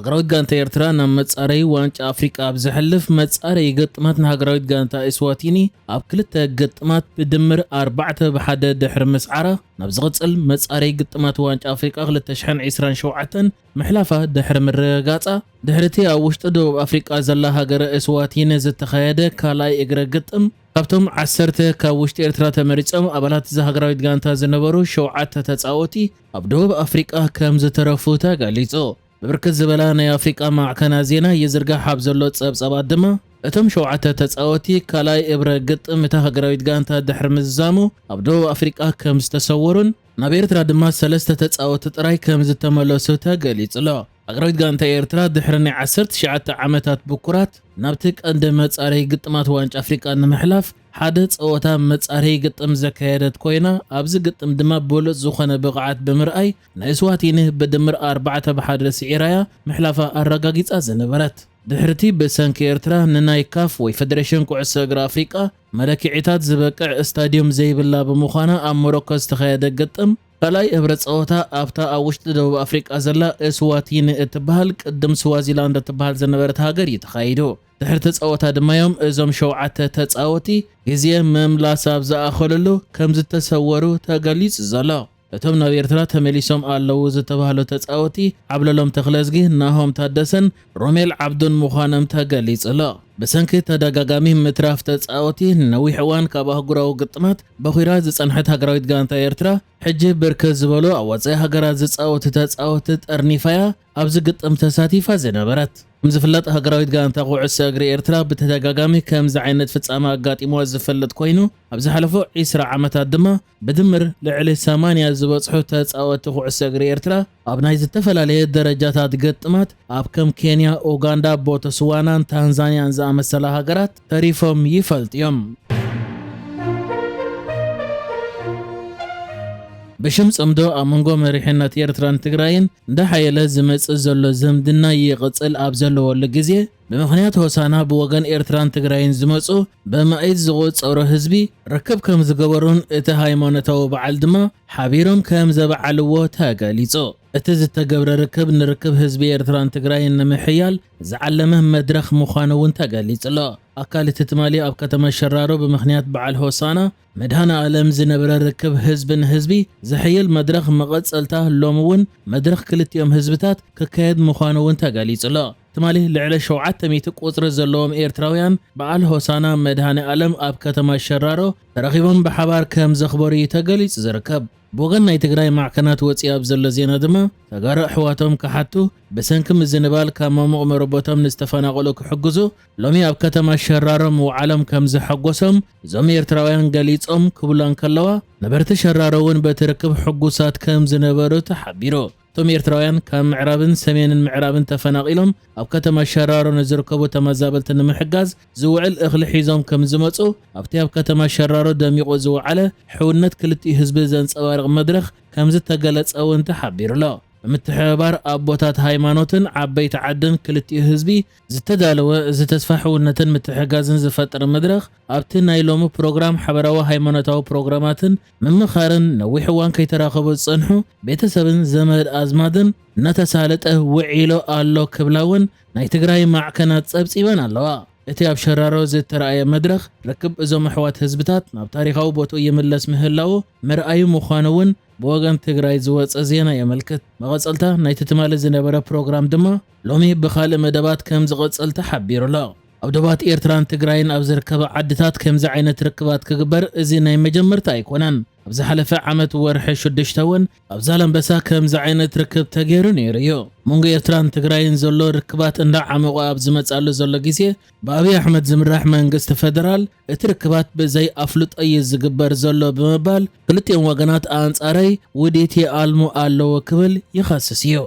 ሃገራዊት ጋንታ ኤርትራ ናብ መጻረዪ ዋንጫ ኣፍሪቃ ኣብ ዘሕልፍ መጻረዪ ግጥማት ንሃገራዊት ጋንታ ኢስዋቲኒ ኣብ ክልተ ግጥማት ብድምር ኣርባዕተ ብ ሓደ ድሕሪ ምስዓራ ናብ ዝቕጽል መጻረዪ ግጥማት ዋንጫ ኣፍሪቃ ክልተ ሽሕን ዕስራን ሸውዓተን ምሕላፋ ድሕሪ ምርግጋጻ ድሕሪ'ቲ ኣብ ውሽጢ ደቡብ ኣፍሪቃ ዘላ ሃገረ ኢስዋቲኒ ዝተኻየደ ካልኣይ እግረ ግጥም ካብቶም ዓሰርተ ካብ ውሽጢ ኤርትራ ተመሪጾም ኣባላት እዛ ሃገራዊት ጋንታ ዝነበሩ ሸውዓተ ተጻወቲ ኣብ ደቡብ ኣፍሪቃ ከም ዝተረፉ ተገሊጹ። ብብርክት ዝበላ ናይ ኣፍሪቃ ማዕከናት ዜና ይዝርጋሕ ኣብ ዘሎ ጸብጻባት ድማ፣ እቶም ሸውዓተ ተጻወቲ ካልኣይ እብረ ግጥም እታ ሃገራዊት ጋንታ ድሕሪ ምዝዛሙ ኣብ ደቡብ ኣፍሪቃ ከም ዝተሰወሩን ናብ ኤርትራ ድማ ሰለስተ ተጻወቲ ጥራይ ከም ዝተመለሱ ተገሊጹ'ሎ። ሃገራዊት ጋንታ ኤርትራ ድሕሪ ናይ ዓሰርተ ትሽዓተ ዓመታት ብኩራት ናብቲ ቀንዲ መጻረዪ ግጥማት ዋንጫ ኣፍሪቃ ንምሕላፍ ሓደ ጸወታ መጻረዪ ግጥም ዘካየደት ኮይና፣ ኣብዚ ግጥም ድማ ብሉጽ ዝኾነ ብቕዓት ብምርኣይ ንእስዋቲኒ ብድምር ኣርባዕተ ብ ሓደ ስዒራ'ያ ምሕላፋ ኣረጋጊጻ ዝነበረት። ድሕሪ'ቲ ብሰንኪ ኤርትራ ንናይ ካፍ ወይ ፈደረሽን ኩዕሶ እግሪ ኣፍሪቃ መለክዒታት ዝበቅዕ እስታድዩም ዘይብላ ብምዃና ኣብ ሞሮኮ ዝተኻየደ ግጥም፣ ካልኣይ እብረ ጸወታ ኣብታ ኣብ ውሽጢ ደቡብ ኣፍሪቃ ዘላ እስዋቲኒ እትበሃል ቅድም ስዋዚላንድ እትበሃል ዝነበረት ሃገር እዩ ተኻይዱ። ድሕሪ'ቲ ጸወታ ድማ'ዮም እዞም ሸውዓተ ተጻወቲ ግዜ ምምላስ ኣብ ዝኣኸሉሉ ከምዝተሰወሩ ተገሊጹ ዘሎ። እቶም ናብ ኤርትራ ተመሊሶም ኣለዉ ዝተባህሉ ተጻወቲ ዓብለሎም ተኽለዝጊ፣ ናሆም ታደሰን ሮሜል ዓብዱን ምዃኖም ተገሊጹ'ሎ። ብሰንኪ ተደጋጋሚ ምትራፍ ተጻወቲ ንነዊሕ እዋን ካብ ኣህጉራዊ ግጥማት በዂራ ዝጸንሐት ሃገራዊት ጋንታ ኤርትራ፣ ሕጂ ብርክት ዝበሉ ኣብ ወጻኢ ሃገራት ዝጻወቱ ተጻወቲ ጠርኒፋ'ያ። ኣብዚ ግጥም ተሳቲፋ ዝነበረት። ከም ዝፍለጥ ሃገራዊት ጋንታ ኩዕሶ እግሪ ኤርትራ ብተደጋጋሚ ከምዚ ዓይነት ፍጻመ ኣጋጢምዋ ዝፈልጥ ኮይኑ ኣብ ዝሓለፉ ዕስራ ዓመታት ድማ ብድምር ልዕሊ ሰማንያ ዝበጽሑ ተጻወቲ ኩዕሶ እግሪ ኤርትራ ኣብ ናይ ዝተፈላለየ ደረጃታት ግጥማት ኣብ ከም ኬንያ፣ ኡጋንዳ፣ ቦተስዋናን ታንዛንያን ዝኣመሰላ ሃገራት ተሪፎም ይፈልጡ እዮም። ብሽም ጽምዶ ኣብ መንጎ መሪሕነት ኤርትራን ትግራይን እንዳሓየለ ዝመጽእ ዘሎ ዝምድና ይቕጽል ኣብ ዘለወሉ ግዜ፣ ብምኽንያት ሆሳና ብወገን ኤርትራን ትግራይን ዝመጹ በማኢት ዝቑጸሩ ህዝቢ ርክብ ከምዝገበሩን እቲ ሃይማኖታዊ በዓል ድማ ሓቢሮም ከምዘበዓልዎ ተገሊጹ። እቲ ዝተገብረ ርክብ ንርክብ ህዝቢ ኤርትራን ትግራይን ንምሕያል ዝዓለመ መድረኽ ምዃኑ እውን ተገሊጹ'ሎ። ኣካል እቲ ትማሊ ኣብ ከተማ ሸራሮ ብምኽንያት በዓል ሆሳና መድሃኔኣለም ዝነበረ ርክብ ህዝቢ ንህዝቢ ዝሕይል መድረኽ መቐጸልታ ሎሚ እውን መድረኽ ክልቲኦም ህዝብታት ክካየድ ምዃኑ እውን ተገሊጹ'ሎ። ትማሊ ልዕሊ ሸውዓተ ሚእቲ ቁጽሪ ዘለዎም ኤርትራውያን በዓል ሆሳና መድሃኔኣለም ኣብ ከተማ ሸራሮ ተረኺቦም ብሓባር ከምዘኽበሩ እዩ ተገሊጹ ዝርከብ። ብወገን ናይ ትግራይ ማዕከናት ወጺኡ ኣብ ዘሎ ዜና ድማ፣ ተጋሩ ኣሕዋቶም ክሓቱ፣ ብሰንኪ ምዝንባል ካብ መሙቕ መረቦቶም ንዝተፈናቐሉ ክሕግዙ፣ ሎሚ ኣብ ከተማ ሸራሮ ምውዓሎም ከምዘሐጎሶም እዞም ኤርትራውያን ገሊጾም ክብላ እንከለዋ፣ ነበርቲ ሸራሮ'ውን በቲ ርክብ ሕጉሳት ከምዝነበሩ ተሓቢሩ። እቶም ኤርትራውያን ካብ ምዕራብን ሰሜንን ምዕራብን ተፈናቒሎም ኣብ ከተማ ሸራሮ ንዝርከቡ ተመዛበልቲ ንምሕጋዝ ዝውዕል እኽሊ ሒዞም ከምዝመጹ ኣብቲ ኣብ ከተማ ሸራሮ ደሚቑ ዝወዓለ ሕውነት ክልቲኡ ህዝቢ ዘንጸባርቕ መድረኽ ከምዝተገለጸ እውን ተሓቢሩ'ሎ። ብምትሕብባር ኣቦታት ሃይማኖትን ዓበይቲ ዓድን ክልቲኡ ህዝቢ ዝተዳለወ እዚ ተስፋ ሕውነትን ምትሕግጋዝን ዝፈጥር መድረኽ ኣብቲ ናይ ሎሚ ፕሮግራም ሓበራዊ ሃይማኖታዊ ፕሮግራማትን ምምኻርን ነዊሕ እዋን ከይተራኸቡ ዝጸንሑ ቤተሰብን ዘመድ ኣዝማድን እናተሳለጠ ውዒሉ ኣሎ ክብላ እውን ናይ ትግራይ ማዕከናት ጸብጺበን ኣለዋ። እቲ ኣብ ሸራሮ ዝተራእየ መድረኽ ርክብ እዞም ኣሕዋት ህዝብታት ናብ ታሪኻዊ ቦትኡ ይምለስ ምህላዉ መርኣዩ ምዃኑ እውን ብወገን ትግራይ ዝወጸ ዜና የመልክት። መቐጸልታ ናይቲ ትማሊ ዝነበረ ፕሮግራም ድማ ሎሚ ብኻልእ መደባት ከምዝቐጸል ተሓቢሩ'ሎ። ኣብ ዶባት ኤርትራን ትግራይን ኣብ ዝርከባ ዓድታት ከምዚ ዓይነት ርክባት ክግበር እዚ ናይ መጀመርታ ኣይኮነን። ኣብ ዝሓለፈ ዓመት ወርሒ ሽዱሽተ እውን ኣብ ዛላምበሳ ከምዚ ዓይነት ርክብ ተገይሩ ነይሩ እዩ። ኣብ መንጎ ኤርትራን ትግራይን ዘሎ ርክባት እንዳዓሞቐ ኣብ ዝመጽኣሉ ዘሎ ግዜ ብኣብይ ኣሕመድ ዝምራሕ መንግስቲ ፈደራል እቲ ርክባት ብዘይ ኣፍልጦ እዩ ዝግበር ዘሎ ብምባል ክልቲኦም ወገናት ኣንጻረይ ውዲት ይኣልሙ ኣለዉ ክብል ይኸስስ እዩ።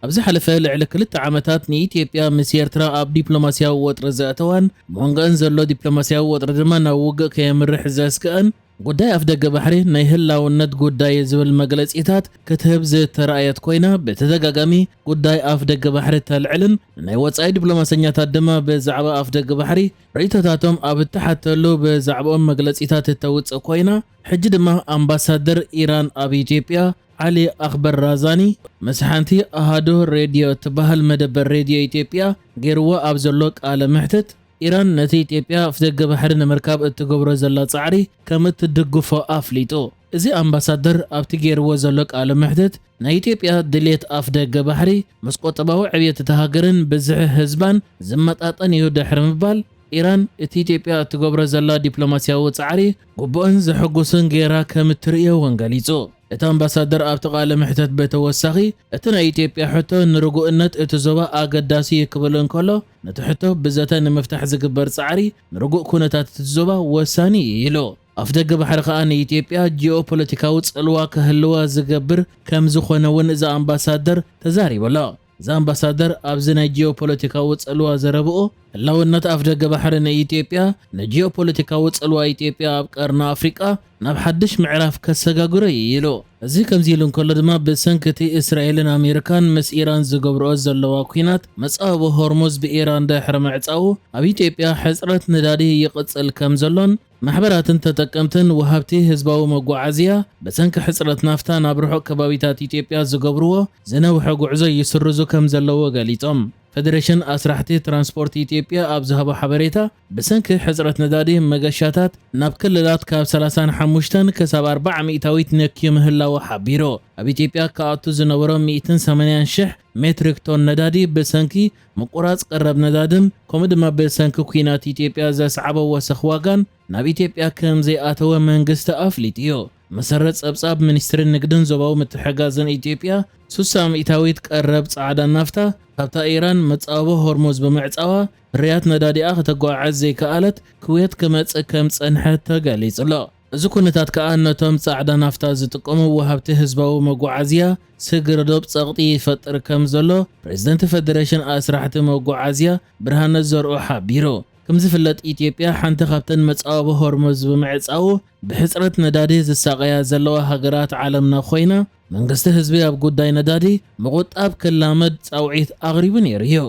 ኣብ ዝሓለፈ ልዕሊ ክልተ ዓመታት ንኢትዮጵያ ምስ ኤርትራ ኣብ ዲፕሎማስያዊ ወጥሪ ዘእተዋን መንጎኣን ዘሎ ዲፕሎማስያዊ ወጥሪ ድማ ናብ ውግእ ከየምርሕ ዘስግኣን ጉዳይ ኣፍደገ ባሕሪ ናይ ህላውነት ጉዳይ'ዩ ዝብል መግለጺታት ክትህብ ዝተራእየት ኮይና፣ ብተደጋጋሚ ጉዳይ ኣፍደገ ባሕሪ ተልዕልን ንናይ ወጻኢ ዲፕሎማሰኛታት ድማ ብዛዕባ ኣፍደገ ባሕሪ ርእይቶታቶም ኣብ እትሓተሉ ብዛዕብኦም መግለጺታት እተውጽእ ኮይና፣ ሕጂ ድማ ኣምባሳደር ኢራን ኣብ ኢትዮጵያ ዓሊ ኣኽበር ራዛኒ ምስ ሓንቲ ኣሃዱ ሬድዮ እትበሃል መደበር ሬድዮ ኢትዮጵያ ገይርዎ ኣብ ዘሎ ቃለ መሕትት፣ ኢራን ነቲ ኢትዮጵያ ኣፍደገ ባሕሪ ንምርካብ እትገብሮ ዘላ ጻዕሪ ከም እትድግፎ ኣፍሊጡ። እዚ ኣምባሳደር ኣብቲ ገይርዎ ዘሎ ቃለ መሕትት፣ ናይ ኢትዮጵያ ድሌት ኣፍደገ ባሕሪ ምስ ቁጠባዊ ዕብየት እታ ሃገርን ብዝሒ ህዝባን ዝመጣጠን እዩ ድሕሪ ምባል፣ ኢራን እቲ ኢትዮጵያ እትገብሮ ዘላ ዲፕሎማስያዊ ጻዕሪ ግቡእን ዘሐጉስን ገይራ ከም እትርእዮ እውን ገሊጹ። እቲ ኣምባሳደር ኣብቲ ቃለ መሕትት ብተወሳኺ፣ እቲ ናይ ኢትዮጵያ ሕቶ ንርጉእነት እቲ ዞባ ኣገዳሲ እዩ ክብል እንከሎ፣ ነቲ ሕቶ ብዘተ ንምፍታሕ ዝግበር ጻዕሪ ንርጉእ ኩነታት እቲ ዞባ ወሳኒ እዩ ኢሉ። ኣፍደገ ባሕሪ ከኣ ንኢትዮጵያ ጂኦፖለቲካዊ ጽልዋ ከህልዋ ዝገብር ከምዝኾነ እውን እዚ ኣምባሳደር ተዛሪቡ ኣሎ። እዚ ኣምባሳደር ኣብዚ ናይ ጂኦፖለቲካዊ ጽልዋ ዘረብኡ፣ ህላውነት ኣፍደገ ባሕሪ ንኢትዮጵያ ንጂኦፖለቲካዊ ጽልዋ ኢትዮጵያ ኣብ ቀርኒ ኣፍሪቃ ናብ ሓድሽ ምዕራፍ ከሰጋግሮ እዩ ኢሉ። እዚ ከምዚ ኢሉ እንከሎ ድማ ብሰንኪ እቲ እስራኤልን ኣሜሪካን ምስ ኢራን ዝገብርኦ ዘለዋ ኲናት መጻብቦ ሆርሙዝ ብኢራን ድሕሪ ምዕጻዉ ኣብ ኢትዮጵያ ሕጽረት ነዳዲ ይቕጽል ከም ዘሎን ማሕበራትን ተጠቀምትን ወሃብቲ ህዝባዊ መጓዓዝያ ብሰንኪ ሕጽረት ናፍታ ናብ ርሑቕ ከባቢታት ኢትዮጵያ ዝገብርዎ ዝነውሐ ጉዕዞ ይስርዙ ከም ዘለዉ ገሊጾም። ፈደሬሽን ኣስራሕቲ ትራንስፖርት ኢትዮጵያ ኣብ ዝሃቦ ሓበሬታ፣ ብሰንኪ ሕጽረት ነዳዲ፣ መገሻታት ናብ ክልላት ካብ ሰላሳን ሓሙሽተን ክሳብ ኣርባዓ ሚእታዊት ነክዩ ምህላዉ ሓቢሩ። ኣብ ኢትዮጵያ ክኣቱ ዝነበሮ ሚእትን ሰማንያን ሽሕ ሜትሪክ ቶን ነዳዲ ብሰንኪ ምቁራጽ ቀረብ ነዳድን ከምኡ ድማ ብሰንኪ ኲናት ኢትዮጵያ ዘስዓቦ ወሰኽ ዋጋን ናብ ኢትዮጵያ ከምዘይኣተወ መንግስቲ ኣፍሊጡ'ዩ። ብመሰረት ጸብጻብ ሚኒስትሪ ንግድን ዞባዊ ምትሕግጋዝን ኢትዮጵያ፣ ስሳ ሚእታዊት ቀረብ ጻዕዳ ናፍታ ካብታ ኢራን መጻብቦ ሆርሙዝ ብምዕጻዋ ፍርያት ነዳዲኣ ከተጓዓዕዝ ዘይከኣለት ክውየት ክመጽእ ከም ዝጸንሐ ተገሊጹ'ሎ። እዚ ኩነታት ከኣ ነቶም ጻዕዳ ናፍታ ዝጥቀሙ ወሃብቲ ህዝባዊ መጓዓዝያ ስግረዶብ ጸቕጢ ይፈጥር ከም ዘሎ ፕረዚደንት ፈደረሽን ኣስራሕቲ መጓዓዝያ ብርሃነ ዘርኡ ሓቢሩ። ከም ዝፍለጥ ኢትዮጵያ ሓንቲ ካብተን መጻወቢ ሆርሙዝ ብምዕጻዉ ብሕጽረት ነዳዲ ዝሳቐያ ዘለዋ ሃገራት ዓለምና ኮይና፣ መንግስቲ ህዝቢ ኣብ ጉዳይ ነዳዲ ምቑጣብ ክላመድ ጻውዒት ኣቕሪቡ ነይሩ እዩ።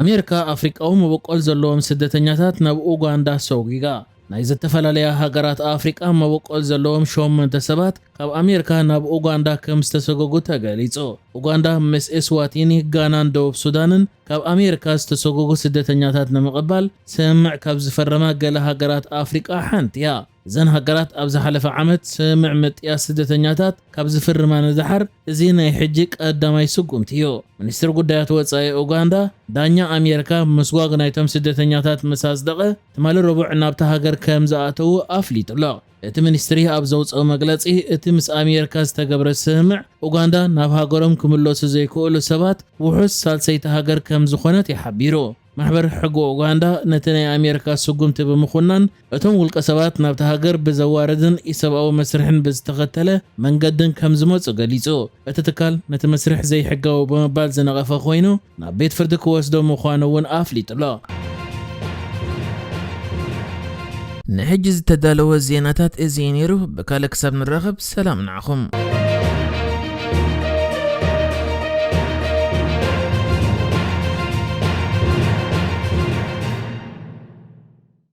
ኣሜሪካ ኣፍሪቃዊ መበቆል ዘለዎም ስደተኛታት ናብ ኡጋንዳ ሰጒጋ። ናይ ዝተፈላለያ ሃገራት ኣፍሪቃ መበቆል ዘለዎም ሸሞንተ ሰባት ካብ ኣሜሪካ ናብ ኡጋንዳ ከም ዝተሰጎጉ ተገሊጹ። ኡጋንዳ ምስ ኤስዋቲኒ፣ ጋናን ደቡብ ሱዳንን ካብ ኣሜሪካ ዝተሰጎጉ ስደተኛታት ንምቕባል ስምምዕ ካብ ዝፈረማ ገለ ሃገራት ኣፍሪቃ ሓንቲ'ያ። እዘን ሃገራት ኣብ ዝሓለፈ ዓመት ስምምዕ ምጥያስ ስደተኛታት ካብ ዝፍርማ ንደሓር እዚ ናይ ሕጂ ቀዳማይ ስጉምቲ'ዩ። ሚኒስትር ጉዳያት ወጻኢ ኡጋንዳ፣ ዳኛ ኣሜሪካ ምስጓግ ናይቶም ስደተኛታት ምስ ኣጽደቐ ትማሊ ረቡዕ ናብታ ሃገር ከምዝኣተዉ ኣፍሊጡ'ሎ። እቲ ሚኒስትሪ ኣብ ዘውጽኦ መግለጺ፣ እቲ ምስ ኣሜርካ ዝተገብረ ስምምዕ፣ ኡጋንዳ ናብ ሃገሮም ክምለሱ ዘይክእሉ ሰባት ውሑስ ሳልሰይቲ ሃገር ከም ዝኾነት እዩ ሓቢሩ። ማሕበር ሕጊ ኡጋንዳ ነቲ ናይ ኣሜርካ ስጉምቲ ብምኹናን፣ እቶም ውልቀሰባት ናብታ ሃገር ብዘዋርድን ኢሰብኣዊ መስርሕን ብዝተኸተለ መንገድን ከም ዝመጹ ገሊጹ። እቲ ትካል ነቲ መስርሕ ዘይሕጋዊ ብምባል ዝነቐፈ ኮይኑ፣ ናብ ቤት ፍርዲ ክወስዶ ምዃኑ እውን ኣፍሊጡ'ሎ። ንሕጂ ዝተዳለወ ዜናታት እዚ እዩ ነይሩ፣ ብካልእ ክሳብ ንራኸብ ሰላም ንዓኹም።